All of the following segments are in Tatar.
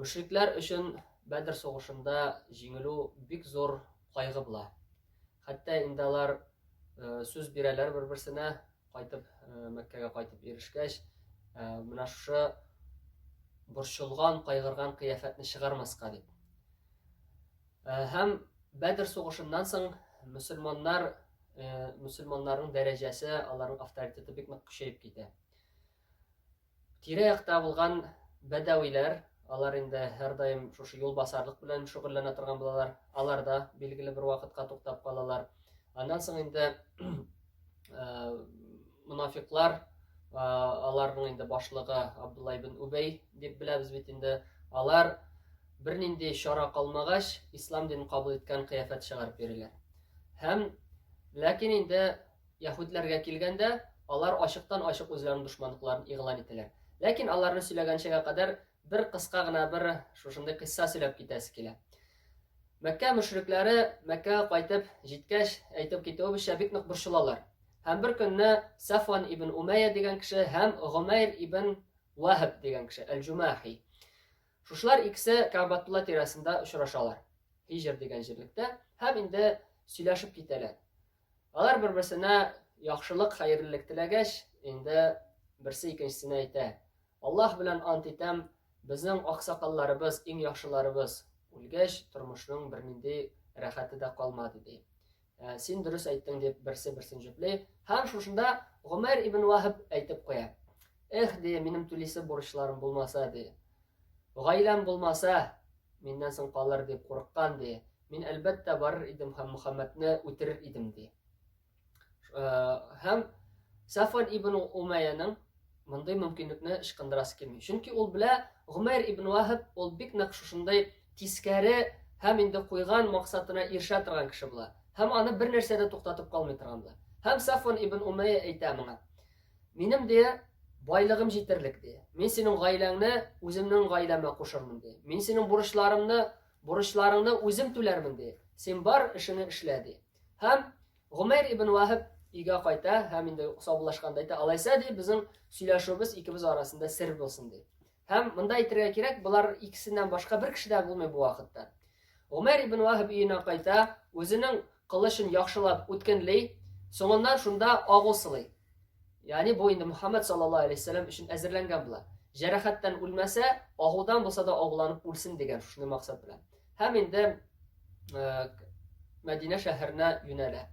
Мөшрикләр өчен Бәдер сугышында җиңелү бик зур кайгы була. Хәтта инде алар сүз бирәләр бер-берсенә, кайтып Мәккәгә кайтып ирешкәч, менә шушы борчылган, кайгырган кыяфәтне чыгармаска дип. Һәм Бәдер сугышыннан соң мөселманнар мөселманнарның дәрәҗәсе, аларның авторитеты бик нык көчәеп китә. Тирә-якта булган бәдәвиләр, алар инде һәрдаим шушы юлбасарлык белән шөгыльләнә торган булалар, алар да билгеле бер вакытка туктап калалар. Аннан соң инде монафиклар, аларның инде башлыгы Абдулла ибн Убәй дип беләбез бит инде, алар бернинди чара калмагач, ислам динен кабул иткән кыяфәт чыгарып йөриләр. Һәм ләкин инде Яһүдләргә килгәндә, алар ачыктан-ачык үзләренең дошманлыкларын игълан итәләр. Ләкин аларны сөйләгәнчегә кадәр бер кыска гына бер шушындый кыйсса сөйләп китәсе килә. Мәккә мөшрикләре Мәккәгә кайтып җиткәч, әйтеп китүебезчә, бик нык борчылалар. Һәм бер көнне Сафван ибн Умәя дигән кеше һәм Гомәйр ибн Ваһаб дигән кеше, Әл-Җумахи. Шушлар икесе Кабатулла тирәсендә очрашалар. Һиҗр дигән җирлектә һәм инде сөйләшеп китәләр. Алар бер-берсенә яхшылык, хәерлелек теләгәч, инде берсе икенчесенә әйтә. Аллаһ белән ант итәм, безнең аксакалларыбыз, иң яхшыларыбыз үлгәч, тормышның бернинди рәхәте дә калмады, ди. Ә, син дөрес әйттең, дип берсе-берсен җөпли. Һәм шушында Гомәр ибн Ваһаб әйтеп куя. Эх, ди, минем түлисе бурычларым булмаса, ди. Гаиләм булмаса, миннән соң калыр дип курыккан, ди. Мин әлбәттә барыр идем һәм Мөхәммәдне үтерер идем ди. Э, һәм Сафван ибн Умәйяның мондый мөмкинлекне ычкындырасы килми. Чөнки ул белә, Гомәр ибн Вахаб ул бик нәкъ шушындай тискәре һәм инде куйган максатына ирешә торган кеше була. Һәм аны бер нәрсә дә туктатып калмый торган була. Һәм Сафван ибн Умәйя әйтә моңа. Минем дә байлыгым җитәрлек ди. Мин синең гаиләңне үземнең гаиләмә кушырмын ди. Мин синең бурычларымны Бурычларыңны үзем түләрмен, ди. Син бар эшеңне эшлә, ди. Һәм Гомәйр ибн Ваһиб өйгә кайта һәм инде саубуллашканда әйтә, алайса, ди, безнең сөйләшүебез икебез арасында сер булсын, ди. Һәм монда әйтергә кирәк, болар икесеннән башка бер кеше дә булмый бу вакытта. Гомәйр ибн Ваһиб өенә кайта, үзенең кылычын яхшылап үткенли, соңыннан шунда агу сылый. Ягъни бу инде Мөхәммәд саллаллаһу алейһи вәсәлләм өчен әзерләнгән була. Җәрәхәттән үлмәсә, агудан булса да агуланып үлсен дигән шушы максат белән. Һәм инде э, Мәдинә шәһәренә юнәлә.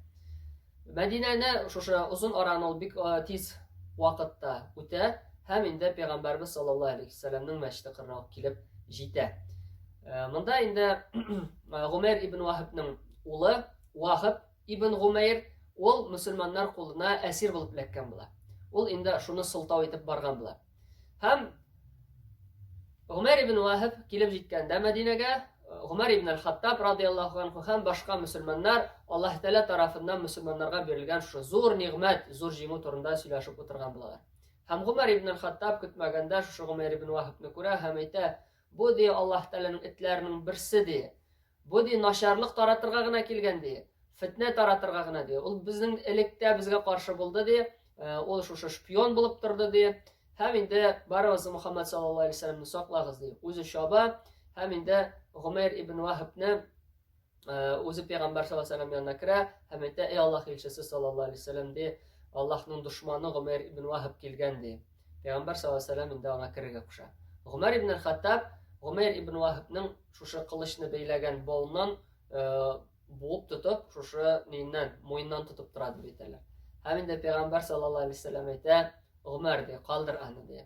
Мәдинәне шушы озын араны ул бик э, тиз вакытта үтә һәм инде пәйгамбәрбез саллаллаһу алейһи вәсәлләмнең мәчете кырына килеп җитә. Э, монда инде гомәр ибн вахибның улы вахиб ибн гумәйр ул мөселманнар кулына әсир булып эләккән була ул инде шуны сылтау итеп барган була һәм гомәр ибн вахиб килеп җиткәндә мәдинәгә гомәр ибн әл хаттаб радиаллаху анху һәм башка мөселманнар аллаһ тәала тарафыннан мөселманнарга бирелгән шушы зур нигъмәт зур җиңү турында сөйләшеп утырган булалар һәм гомәр ибн әл хаттаб көтмәгәндә шушы гомәр ибн вахибны күрә һәм әйтә Бу, ди, Аллаһ Тәгаләнең этләренең берсе, ди. Бу, ди, начарлык таратырга гына килгән, ди. Фетнә таратырга гына, ди. Ул безнең электә безгә каршы булды, ди. Э, ул шушы шпион булып торды, ди. Һәм инде барыгыз Мухаммад саллаллаһу алейһи ва саклагыз, ди. Үзе чаба һәм инде Гомәр ибн Вахабны Үзе пәйгамбәр саллаллаһу алейһи вәсәлләм янына керә һәм әйтә, "Эй Аллаһ илчесе саллаллаһу алейһи вәсәлләм" ди, "Аллаһның дошманы Гомәр ибн Ваһаб килгән" ди. Пәйгамбәр саллаллаһу алейһи вәсәлләм инде аңа керергә куша. Гомәр ибн Хаттаб Гомәр ибн Ваһабның шушы кылычны бәйләгән болыннан буып тотып, шушы ниннән, муеннан тотып тора дип әйтәләр. Һәм инде пәйгамбәр саллаллаһу алейһи вәсәлләм әйтә, "Гомәр ди, калдыр аны" ди.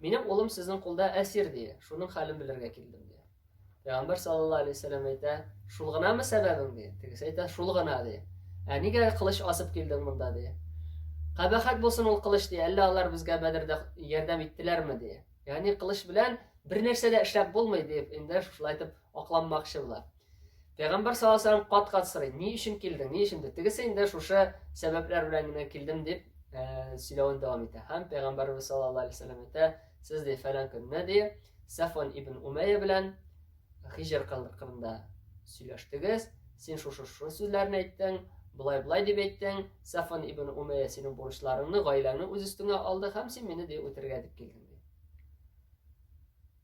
Минем улым сезнең кулда әсир, ди. Шуның хәлен белергә килдем, ди. Пәйгамбәр саллаллаһу алейһи вәсәләм әйтә, шул гынамы сәбәбең, ди. Тегесе әйтә, шул гына, ди. Ә нигә кылыч асып килдең монда, ди. Кабахат булсын ул кылыч, ди. Әллә алар безгә Бәдердә ярдәм иттеләрме, ди. Ягъни кылыч белән бер нәрсә дә эшләп булмый, дип, инде шулай итеп акланмакчы була. Пәйгамбәр саллаллаху алейһи кат-кат сорый, ни өчен килдең, ни өчен дип. Тегесе инде шушы сәбәпләр белән генә килдем дип э, сөйләвен дәвам итә. Һәм пәйгамбәрбез саллаллаху алейһи вәсәлләм әйтә, сез ди фәлән көнне ди Сафон ибн Умәйя белән Хижр кырында сөйләштегез, син шушы шушы сүзләрне әйттең, былай былай дип әйттең, Сафон ибн Умәйя синең бурычларыңны, гаиләңне үз өстеңә алды һәм син мине ди үтергә дип килдең.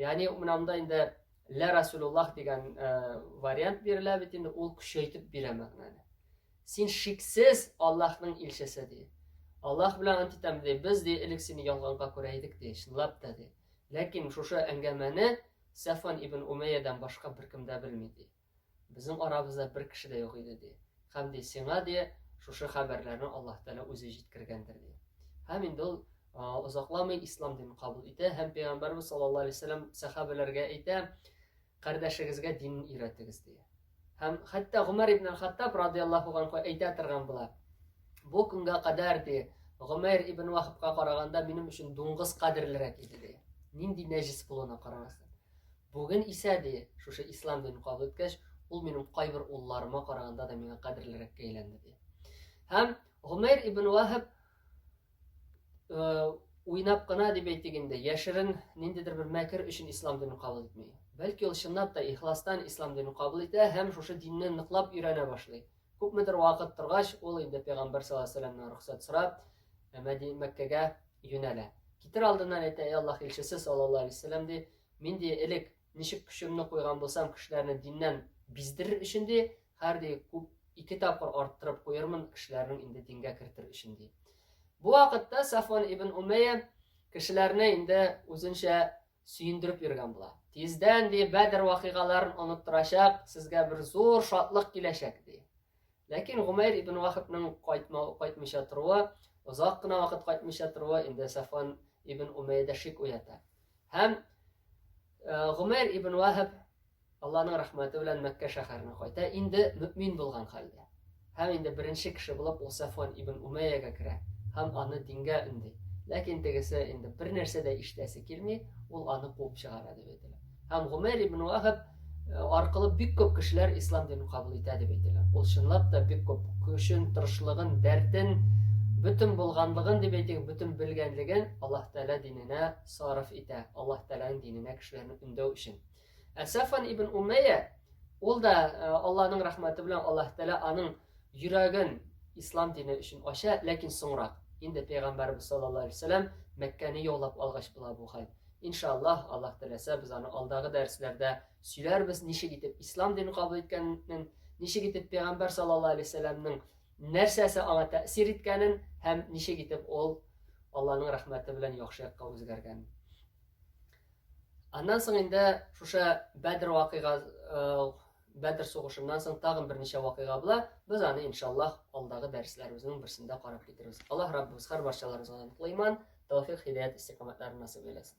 Ягъни менә монда инде лә Расулуллах дигән вариант бирелә бит инде, ул көчәйтеп бирә мәгънәне. Син шиксез Аллаһның илчесе ди. Аллаһ белән ант итәм ди, без ди элек сине ялганга күрә идек ди, чынлап та ди. Ләкин шушы әңгәмәне Сәфван ибн Умәйядан башка беркем дә белми ди. Безнең арабызда бер кеше дә юк иде, ди. Һәм, ди, сиңа, ди, шушы хәбәрләрне Аллаһ Тәгалә үзе җиткергәндер, ди. Һәм инде ул озакламый ислам динен кабул итә һәм пәйгамбәрбез саллаллаһу алейһи вәсәләм сәхабәләргә әйтә, кардәшегезгә динен өйрәтегез, ди. Һәм хәтта Гомәр ибн Хаттаб радиаллаһу анху әйтә торган була. Бу көнгә кадәр ди, Гомәр ибн Вахабка караганда минем өчен дуңгыз кадерлерәк иде ди. Нинди нәҗис булуына карамастан. Бүген исә, ди, шушы ислам динен кабул иткәч, ул минем кайбер улларыма караганда да миңа кадерлерәккә әйләнде, ди. Һәм Гомәйр ибн Ваһаб уйнап кына дип әйтик инде, яшерен ниндидер бер мәкер өчен ислам динен кабул итми. Бәлки ул чынлап та ихластан ислам динен кабул итә һәм шушы динне ныклап өйрәнә башлый. Күпмедер вакыт торгач, ул инде пәйгамбәр саллаллаһу алейһи вәсәлләмнән рөхсәт сорап, Мәдинә Мәккәгә юнәлә. Китер алдыннан әйтә, "Эй Аллаһ илчесе саллаллаһу алейһи вәсәлләм" ди, Мин ди элек ничек көчемне куйган булсам кешеләрне диннән биздерер өчен ди, хәр ди күп ике тапкыр арттырып куермын кешеләрнең инде дингә кертер өчен ди. Бу вакытта Сафван ибн Умәйя кешеләрне инде үзенчә сөендереп йөргән була. Тиздән ди Бәдер вакыйгаларын оныттырачак, сезгә бер зур шатлык киләчәк ди. Ләкин Гумәйр ибн Вахабның кайтмау, кайтмыйча торуы, озак кына вакыт кайтмыйча торуы инде Сафван ибн Умәйдә шик уята. Һәм Гумәйр ибн Вахаб Аллаһның рәхмәте белән Мәккә шәһәренә кайта, инде мөмин булган хәлдә. Һәм инде беренче кеше булып ул Сафван ибн Умәйягә керә һәм аны дингә өнди. Ләкин тегесе инде бер нәрсә дә ишетәсе килми, ул аны куып чыгара дип әйтелә. Һәм Гомәр ибн Вахаб э, аркылы бик күп кешеләр ислам динен кабул итә дип әйтелә. Ул чынлап та бик күп көчен, тырышлыгын, дәртен, бөтен булганлыгын дип әйтик, бөтен белгәнлеген Аллаһ Тәгалә диненә сарыф итә. Аллаһ Тәгаләнең диненә кешеләрне өндәү өчен. Ә Сафан ибн Умәйя ул да э, Аллаһның рәхмәте белән Аллаһ Тәгалә аның йөрәген ислам дине өчен ача, ләкин соңрак инде пәйгамбәрбез саллаллаһу алейһи вәсәләм Мәккәне яулап алгач була бу хәл. Иншаллаһ, Аллаһ теләсә, без аны алдагы дәресләрдә сөйләрбез, ничек итеп ислам динен кабул иткәнен, ничек итеп пәйгамбәр саллаллаһу алейһи вәсәлләмнең нәрсәсе аңа тәэсир иткәнен һәм ничек итеп ул Аллаһның рәхмәте белән яхшы якка үзгәргәнен. Аннан соң инде шушы Бәдр вакыйгасы Бәдер сугышыннан соң тагын берничә вакыйга була. Без аны иншаллаһ алдагы дәресләребезнең берсендә карап китербез. Аллаһ Раббыбыз һәр барчаларыбызга ныклы иман, тәвфик, һидәят, истикамәтләрен насыйп әйләсен.